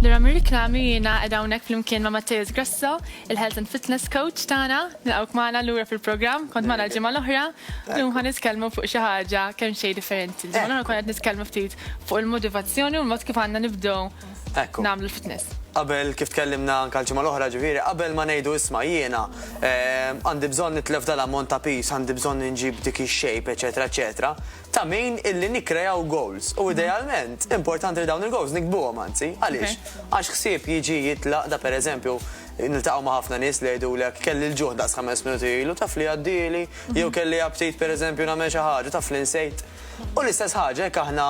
Lura mir-riklami jiena qiegħda hawnhekk flimkien ma' Matteus Grasso, il-Health and Fitness Coach tagħna, nilqgħuk magħna lura fil-programm, kont magħna ġimgħa l-oħra, llum ħa nitkellmu fuq xi ħaġa kemm xejn differenti. Ġimgħa l-oħra kont qed nitkellmu ftit fuq il-motivazzjoni u l-mod kif għandna nibdew nagħmlu l-fitness. Qabel kif tkellimna anke l-ġimgħa l-oħra ġifieri, qabel ma ngħidu isma' jiena eh, għandi bżonn nitlef dal-ammont ta' pis, għandi bżonn inġib dik ix-shape, eċetera, eċetera. ta' min illi nikkrejaw goals u idealment importanti li dawn il-goals nikbuhom anzi. Għaliex? Għax ħsieb jiġi jitlaq da pereżempju niltaqgħu ma' ħafna nies li jgħidulek kelli l-ġuħ daqs ħames minuti ilu taf li għaddieli jew kelli aptit pereżempju nagħmel xi ħaġa taf li nsejt. U l-istess ħaġa jekk aħna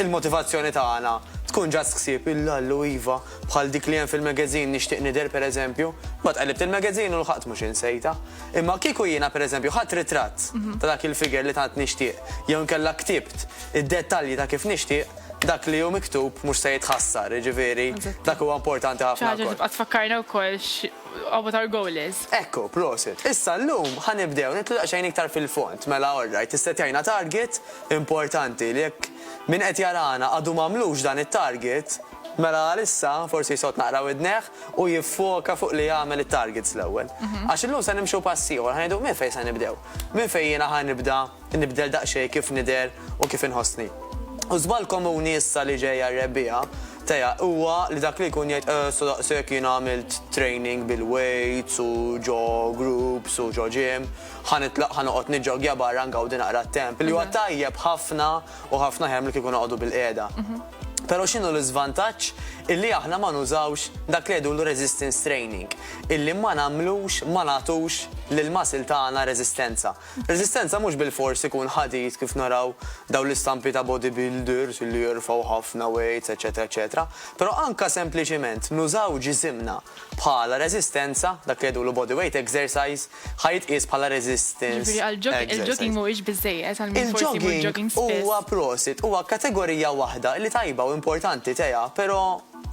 il-motivazzjoni tagħna tkun just ħsieb il-Allu iva bħal dik li hemm fil-magazine Nixtieq Nidher pereżempju, mbagħad qellibt il-magazine u lħaqt mhux insejtha. Imma kieku jiena pereżempju ħadt ritratt ta' dak il-figure li tant nixtieq jew inkella ktibt id-dettalji ta' kif nixtieq, dak li hu miktub mhux se jitħassar, jiġifieri dak huwa importanti ħafna wkoll. Xi ħaġa li tibqa' tfakkarna wkoll x'what our goal is. Ekku, prosit. Issa llum ħa nibdew nidħlu daqsxejn iktar fil-fond. Mela alright, issettjajna target importanti li jekk min qed jarana għadu m'għamlux dan it-target, Mela għalissa forsi jsott naqra widnejh u jiffoka fuq li jagħmel it-targets l-ewwel. Għax illum se nimxu pass ieħor, ħa ngħidu minn fejn se nibdew. Minn fejn jiena ħa nibda nibdel daqsxejn kif nidher u kif inħossni. U żball komuni issa li ġej għar-rebbiegħa teja huwa li dak li jkun jgħid eh sa daqshekk jiena għamilt training bil-weights u ġo groups u ġo gym, ħa nitlaq ħa noqgħod niġġoggja barra ngawdi naqra t-temp li huwa tajjeb ħafna u ħafna aħjar milli kieku noqogħdu bil-qiegħda. Però x'inhu l-iżvantaġġ illi aħna ma nużawx dak li jgħidulu resistance training, illi ma nagħmlux, ma nagħtux lill-muscle tagħna reżistenza. Reżistenza mhux bilfors ikun ħadid kif naraw dawn l-istampi ta' bodybuilders illi jerfgħu ħafna weights, eċċetera eċċetera, però anke sempliċiment nużaw ġisimna bħala reżistenza, dak li jgħidulu bodyweight exercise, ħa jitqies bħala resistance Jiġifieri għal jogging, exercise. il-jogging mhuwiex biżżejjed għal min forsi jmur Il-jogging jogging spiss. huwa prosit, huwa kategorija waħda li tajba u importanti teha, però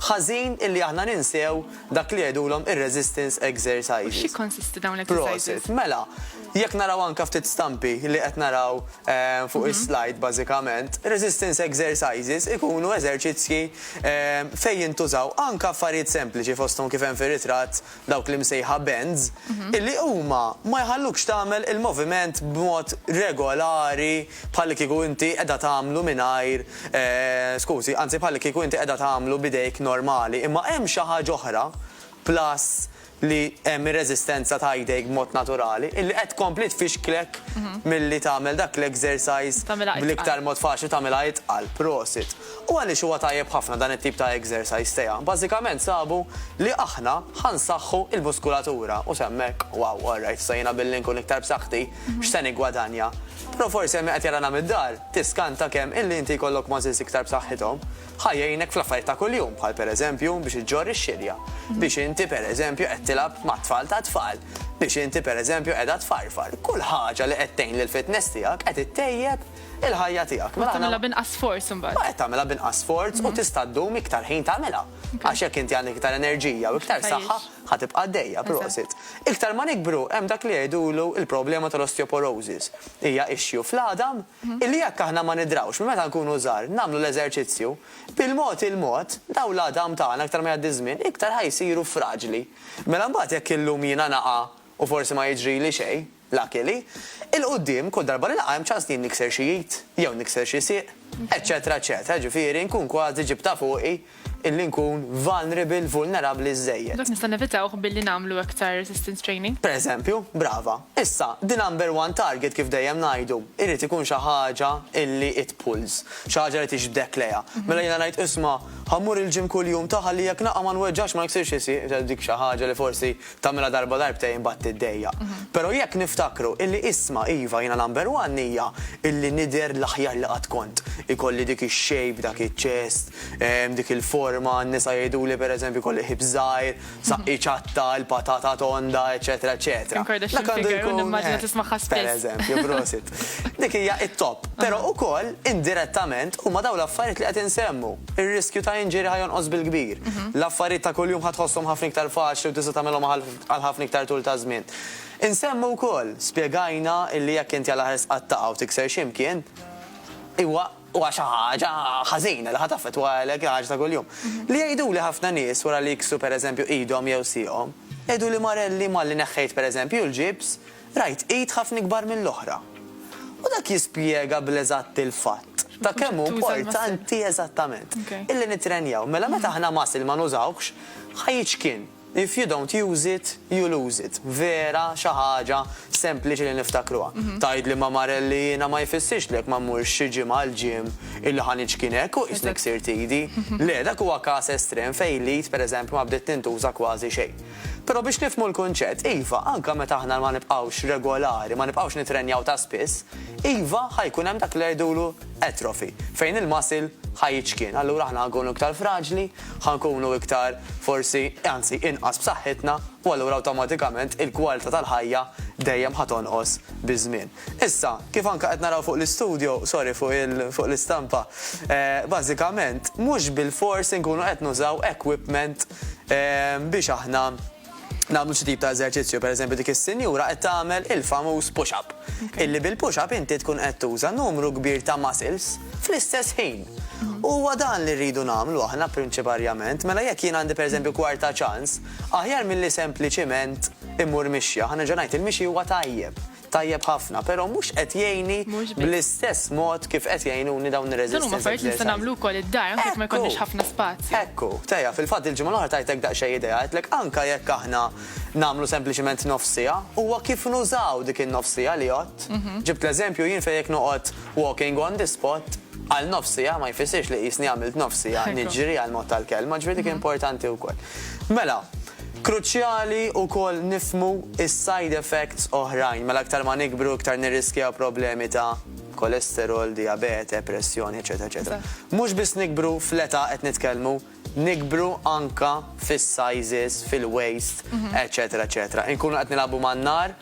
ħażin illi aħna ninsew dak li jgħidulhom ir-resistance U exercises. x'jikkonsisti dawn l-exercises? Prosit. Mela, jekk naraw anke ftit stampi li qed naraw eh, fuq is-slide bażikament, resistance exercises ikunu eżerċizzji eh, fejn jintużaw anke affarijiet sempliċi fosthom kif hemm fir-ritratt dawk l-imsejħa bends, illi huma ma jħallukx tagħmel il-moviment b'mod regolari bħallikieku inti qiegħda tagħmlu mingħajr, skużi, anzi bħallikieku inti qiegħda tagħmlu b'idejk normali. Imma hemm xi ħaġa oħra, plus li hemm ir-reżistenza ta' idejk b'mod naturali, illi qed tkompli tfixklek milli tagħmel dak l-exercise bl-iktar mod faċli u tagħmilha itqal. Prosit. U għaliex huwa tajjeb ħafna dan it-tip ta' exercise sejħa? Bażikament sabu li aħna ħa nsaħħu l-muskulatura. U sa hemmhekk, wow, all right, sa jiena billi nkun iktar b'saħħti, x'se niggwadanja? Però forsi hemm min qed jarana mid-dar, tiskanta kemm illi inti jkollok muscles iktar b'saħħithom ħa jgħinek fl-affarijiet ta' kuljum, bħal pereżempju biex iġġorr ix-xirja, biex inti pereżempju qed tilgħab mat-tfal tat-tfal, biex inti pereżempju qiegħda tfarfar. Kull ħaġa li qed tgħin lill-fitness tiegħek qed ittejjeb il-ħajja tiegħek. Mela tagħmilha b'inqas sforz imbagħad. Ma qed tagħmilha b'inqas sforz u mhm. tista' ddum iktar ħin tagħmilha. Għax jekk inti għandek iktar enerġija u iktar saħħa ħa tibqa' dejja prosit. Iktar ma nikbru hemm dak li jgħidulu il-problema tal-osteoporosis. Hija issue fl-għadam mhm. illi jekk aħna ma nidrawx minn meta nkunu żgħar nagħmlu l-eżerċizzju bil-mod il-mod daw l-għadam tagħna iktar ma jgħaddi żmien iktar ħajsiru fraġli. Mela mbagħad jekk illum jiena naqa' u forsi ma jiġri li xejn, Lucky li, 'il quddiem, kull darba li naqa' hemm ċans li jien nikser xi id, jew nikser xi sieq, eċċetera eċċetera, jiġifieri nkun kważi ġibtha fuqi illi nkun vulnerable, vulnerabbli, żżejjed. Dak nistgħu nevitawh billi nagħmlu aktar resistance training. Pereżempju, brava. Issa, the number one target kif dejjem ngħidu, irid ikun xi ħaġa illi it pulls, xi ħaġa li tixbdek lejha. Mela jiena ngħid, isma', ħa mmur il-gym kuljum ta' ħalli jekk naqa' ma nweġġax, ma niksirx xi sieq, dik xi ħaġa li forsi Tagħmilha darba darbtejn imbagħad tiddejjaq. Però jekk niftakru illi isma' iva jiena number one hija illi nidher l-aħjar li qatt kont. Ikolli dik ix-shape, dak iċ-chest, dik il-forma, n-nisa jgħiduli per eżempju jkolli ħips żgħir, saqqi ċatta, il-patata tonda, eċċetera eċċetera. Dak għandu jkun. Kim Kardashian figure u nimmaġina tismagħha spiss. Per eżempju, prosit. Dik hija it-top. Però ukoll indirettament huma dawn l-affarijiet li qed insemmu. Ir-riskju ta' injury ħa jonqos bil-kbir. L-affarijiet ta' kuljum ħa tħosshom ħafna iktar faċli u tista' tagħmilhom għal ħafna iktar tul ta' żmien. Insemmu wkoll, spjegajna illi jekk inti għal aħer sqattaqha u tikser xi mkien, huwa huwa xi ħaġa ħażina li ħa taffettwalek il-ħaġa ta' kuljum. Li jgħiduli ħafna nies wara li jiksru pereżempju idhom jew sieqhom, jgħiduli Marelli malli neħħejt pereżempju l-ġibs, Rajt id ħafna ikbar mill-oħra. U dak jispjega bl-eżatt il-fatt ta' kemm hu importanti eżattament. Illi nittrenjaw. Mela meta aħna muscle ma nużawhx, ħa jiċkien. If you don't use it, you lose it. Vera xi ħaġa sempliċi li niftakruha. Tgħidli ma Marel li jiena ma jfissirx li jekk ma mmurx xi ġimgħa għall-gym illi ħa niċkien hekk u qisni ksirt idi. Le, dak huwa każ estrem fejn l-id pereżempju ma bdiet tintuża kważi xejn. Però biex nifhmu l-kunċett, iva, anke meta aħna ma nibqgħux regolari, ma nibqgħux nittrenjaw ta' spiss, iva, ħa jkun hemm dak li jgħidulu atrophy, fejn il-muscle ħa jiċkien. Allura aħna ħa nkunu iktar fraġli, ħa nkunu iktar forsi, anzi, inqas b'saħħitna, u allura awtomatikament il-kwalità tal-ħajja dejjem ħa tonqos biż-żmien. Issa, kif anke qed naraw fuq l-istudjo, sorry fuq l-istampa, bażikament mhux bilfors inkunu qed nużaw equipment biex aħna nagħmlu xi tip ta' eżerċizzju. Pereżempju dik is-sinjura qed tagħmel il-famuż push up. Illi bil-push up inti tkun qed tuża numru kbir ta' muscles fl-istess ħin. U huwa dan li rridu nagħmlu aħna prinċiparjament. Mela jekk jien għandi pereżempju kwarta ċans, aħjar milli sempliċiment immur mixja. Ħa nerġa' ngħid, il-mixi huwa tajjeb. Tajjeb ħafna, pero mhux qed jgħinni bl-istess mod kif qed jgħinuni dawn ir-resistance exercises. Dan huma affarijiet li nista' nagħmlu wkoll id-dar anke jekk ma jkollniex ħafna spazju. Ekku, Tea, fil-fatt il-ġimgħa l-oħra tajtek daqsxejn idea, għedtlek anke jekk aħna nagħmlu sempliċement nofs siegħa, huwa kif nużaw dik in-nofs siegħa li għodt. Ġibt l-eżempju jien fejn jekk noqgħod walking on the spot għal nofs siegħa ma jfissirx li qisni għamilt nofs siegħa niġri għall-mod tal-kelma, ġifieri dik importanti wkoll. Mela, Kruċjali wkoll nifhmu s-side effects oħrajn, mela iktar ma nikbru iktar nirriskjaw problemi ta' kolesterol, dijabete, pressjoni, eċċetera eċċetera. Mhux biss nikbru fl-età qed nitkellmu, nikbru anke fis-sizes, fil-waist, eċċetera eċċetera. Inkunu qed nilagħbu man-nar.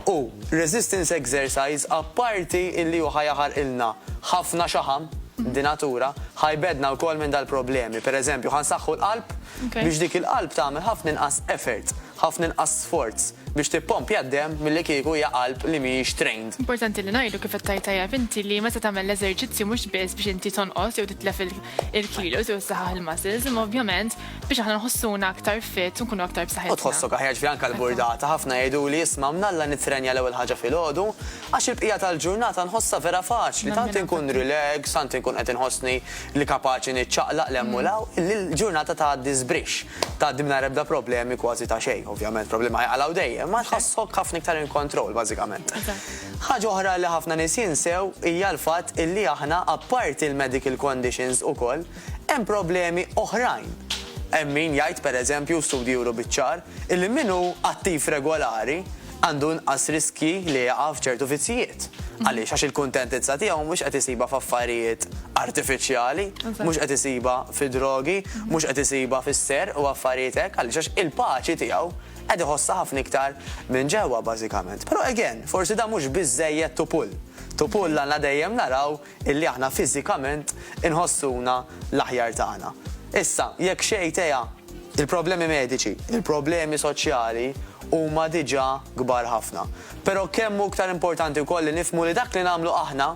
U resistance exercise apparti illi hu ħa jaħarqilna ħafna xaħam, di natura, ħa jbeddna wkoll minn dal-problemi. Per eżempju, ħa nsaħħu l-qalb biex dik il-qalb tagħmel ħafna inqas effort, ħafna inqas sforz biex tippompja d-demm milli kieku hija qalb li mhijiex trained. Importanti li ngħidu kif qed tgħid tajjeb inti li meta tagħmel l-eżerċizzju mhux biss biex inti tonqos jew titlef il-kilos jew issaħħaħ il-muscles imma ovvjament biex aħna nħossuna aktar fit u nkunu aktar b'saħħitna. U tħossok aħjar ġifieri anke l-burdata, ħafna jgħiduli isma' mnalla nittrenja l-ewwel ħaġa filgħodu għax il-bqija tal-ġurnata nħossha vera faċli, tant inkun relax, tant inkun qed inħossni li kapaċi niċċaqlaq 'l hemm u 'l hawn, li l-ġurnata tgħaddi żbrixx, tgħaddi mingħajr ebda problemi kważi ta' xejn. Ovvjament problemi ma jaqalgħu dejjem, imma tħossok ħafna iktar in control bażikament. Ħaġa oħra li ħafna nies jinsew hija l-fatt illi aħna apparti l-medical conditions ukoll, Hemm problemi oħrajn. Hemm min jgħid, per eżempju, studji juru biċ-ċar, illi min hu attiv regolari għandu inqas riskji li jaqa' f'ċertu vizzijiet. Għaliex? Għax il-kuntentizza tiegħu mhux qed isibha f'affarijiet artifiċjali, mhux qed isibha fid-drogi, mhux qed isibha fis-serq u affarijiet hekk. Għaliex? Għax il-paċi tiegħu qed iħossha ħafna iktar minn ġewwa bażikament. Però again, forsi dan mhux biżżejjed to pull. To pull għandna dejjem naraw illi aħna fiżikament inħossuna l-aħjar tagħna. Issa, jekk xi idea, il-problemi mediċi, il-problemi soċjali huma diġà kbar ħafna. Però kemm hu iktar importanti wkoll li nifhmu li dak li nagħmlu aħna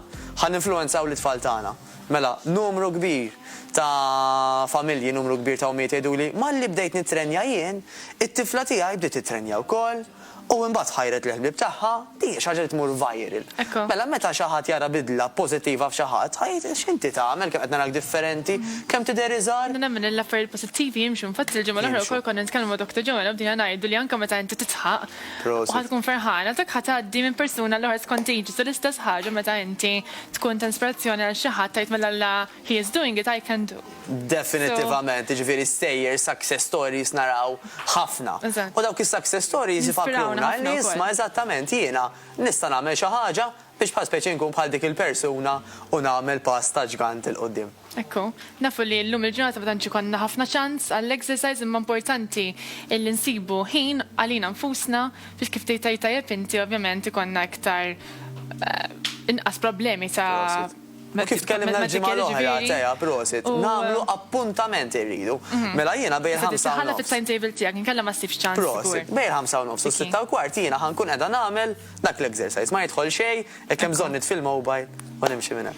ħa ninfluwenzaw lit-tfal tagħna. Mela, numru kbir ta' familji, numru kbir ta' ommijiet jgħiduli, malli bdejt nittrenja jien, it-tifla tiegħi bdiet tittrenja wkoll. U imbagħad ħajret lill-ħbieb tagħha, din hija xi ħaġa li tmur viral. Mela meta xi ħadd jara bidla pożittiva f'xi ħadd, ħa jgħid, x'inti tagħmel, kemm qed narak differenti, kemm tidher iżgħar. Nemmen li l-affarijiet pożittivi jimxu, infatti il-ġimgħa l-oħra wkoll konna nitkellmu ma' Doctor Joanna u bdejna ngħidu li anke meta inti tidħaq u ħa tkun ferħan, għalhekk ħa tgħaddi minn persuna għall-oħra it's contagious u l-istess ħaġa meta inti tkun ta' inspirazzjoni għal xi ħadd tgħid mela la He is doing it, I can do. Definittivament, jiġifieri stejjer, success stories naraw ħafna. U dawk is-success stories ifakruna li isma' eżattament jiena nista' nagħmel xi ħaġa biex bħal speċi nkun bħal dik il-persuna u nagħmel pass ta' ġgant 'il quddiem. Ekku. Nafu li llum il-ġurnata ma tantx ikollna ħafna ċans għall-exercise imma importanti illi nsibu ħin għalina nfusna biex kif tgħid tajjeb inti ovvjament ikollna iktar inqas problemi ta' U kif tkellimna l-ġimgħa l-oħra, Tea, prosit, nagħmlu appuntament irridu. Mela jiena bejn il-ħamsa u nofs. Prosit, bejn il-ħamsa u nofs u s-sitta u kwart jiena ħa nkun qiegħda nagħmel dak l-exercise. Ma jidħol xejn, jekk hemm bżonn nitfi l-mobile u nimxi minn hemm.